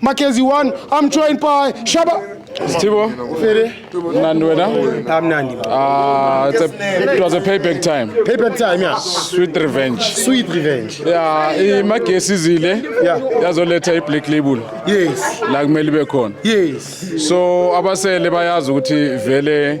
Mackenzie one, I'm joined by Shaba. Stibo, Nandi wena? I'm Nandi. Uh, it's a, it was a payback time. Payback time, yeah. Sweet revenge. Sweet revenge. Yeah, imagesi izile. Yeah. Yazoletha i-black label. Yes. La kumele ibe khona. Yes. So abasele bayazi ukuthi vele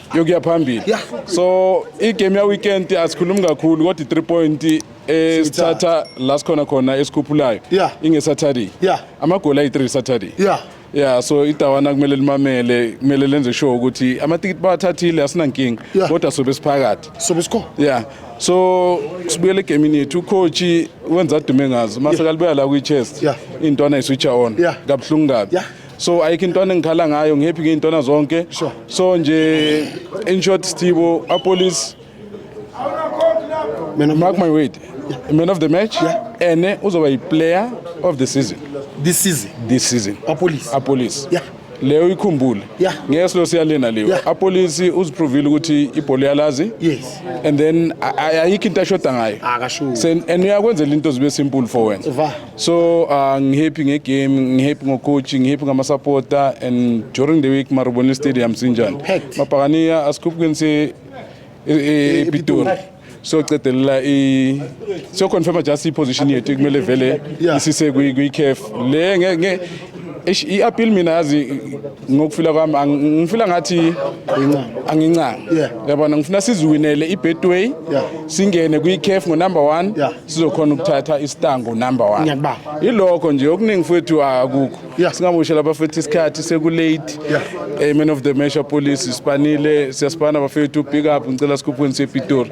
yokuya phambili Yeah. so igame yaweekend asikhulumi kakhulu kodwa i-3 point eh, sithatha la sikhona khona esikhuphulayo Yeah. ingesaturday Yeah. amagoli ayi-3 saturday Yeah. ya so idawana kumele limamele kumele lenze sure ukuthi amatikiti bawathathile asinankinga Yeah. kodwa sobe siphakathi sobe sikhona ya so sibuyele egemini yethu ukhotshi wenza adume ngazo mase kalibuya la kwi-chest Yeah. intwana iswitsha on Yeah. kabuhlungu kabi Yeah. so ayikho intwana engikhala ngayo ngihappy ngey'ntwana zonke so nje in short stibo apolice mark my word man of the match ene uzoba yi-player of the season this season this season apolice apolice yeah leyo ikhumbule yeah. ngeke lo siyalena leyo yeah. apolisi uziprovile ukuthi ibhola yalazi yes. and then ayikho into ashoda ngayo and uyakwenzela into zibe simple for wena So uh, ngihappy ngegame, ngihappy ngocoach, ngihappy ngamasupporter and during the week Marubeni Stadium sinjani. Mabhakaniya asikhupukeni se ePitori. E, e, e, so cedelela i so confirm just i position yethu kumele vele isise kwi kwi CAF le nge i appeal mina yazi ngokufila kwami ngifila ngathi angincanga yabona ngifuna siziwinele i-betway singene kwi-caf ngonumber one sizokhona ukuthatha isitango number one yilokho nje okuningi fethu akukho singaboshela abafethu isikhathi sekulate eh, man of the measure police sibanile siyasibana bafethu big up ngicela sikhuphweni sepitori